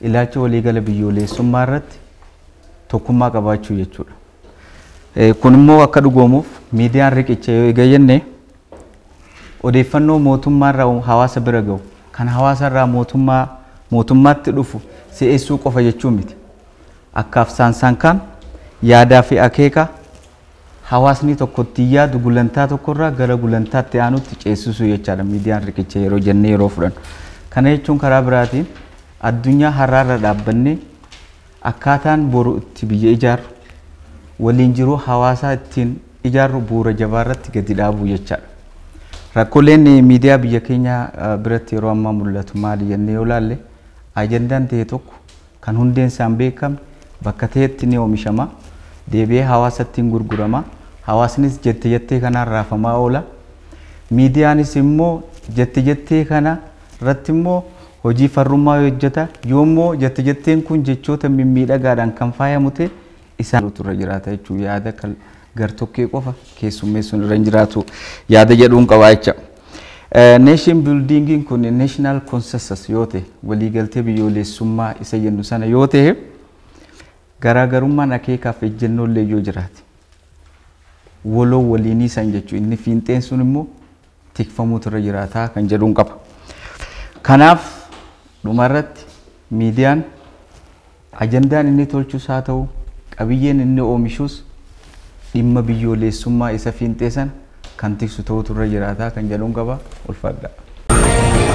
ilaacha waliigala biyyooleessummaa irratti tokkummaa qabaachuu jechuudha. Kun immoo akka dhugoomuuf miidiyaan riqicha yoo eega jenne odeeffannoo mootummaa irraa hawaasa bira gahu kan hawaasa irraa mootummaa mootummaatti dhufu si'eessuu qofa jechuu miti. Akkaaf saansaan kaan yaadaa fi akeeka hawaasni tokko ittiin yaadu gulantaa tokkorraa gara gulantaa itti aanutti ceessisuu jechaadha miidiyaan riqicha yeroo jennee yeroo fudhannu. Kana jechuun karaa biraatiin addunyaa har'aarra dhaabbannee akkaataan boru itti biyya ijaarru waliin jiruu hawaasaa ittiin ijaarru bu'uura jabaarratti gadi dhaabuu jechaadha. Rakkoleen miidiyaa biyya keenya biratti yeroo ammaa mul'atu maali jennee yoo ilaalle ajandaan ta'e tokko kan hundeen isaa hin beekamne bakka ta'etti ni oomishama, deebi'ee hawaasatti hin gurgurama, hawaasnis jette jettee kanaan raafamaa oola. Miidiyaanis immoo jette jettee kana irratti immoo hojii farrummaa yoo hojjeta, yoo immoo jette jetteen kun jechoota mimmiidhagaadhaan kan faayamu ta'e isaan irra jiraata jechuun yaada gartokkee qofa keessummeessuun irra hin jiraatu yaada jedhuun qabaa jecha. Neeshin biildiingiin kun neeshinaal konsensas yoo ta'e waliigaltee biyyoolessummaa isa jennu sana yoo ta'e garaagarummaan akeekaaf ejjennoo illee yoo jiraate waloo waliinii san jechuun inni fiinxeen sun immoo tikfamuutu irra jiraataa kan jedhuun qaba. Kanaaf dhumarratti miidiyaan ajandaan inni tolchus haa ta'u qabiyyeen inni oomishuus dhimma biyyooleessummaa isa fiinxee sana kan tiksu ta'uutu irra jiraataa kan jedhuun qaba. Ulfaadhaa.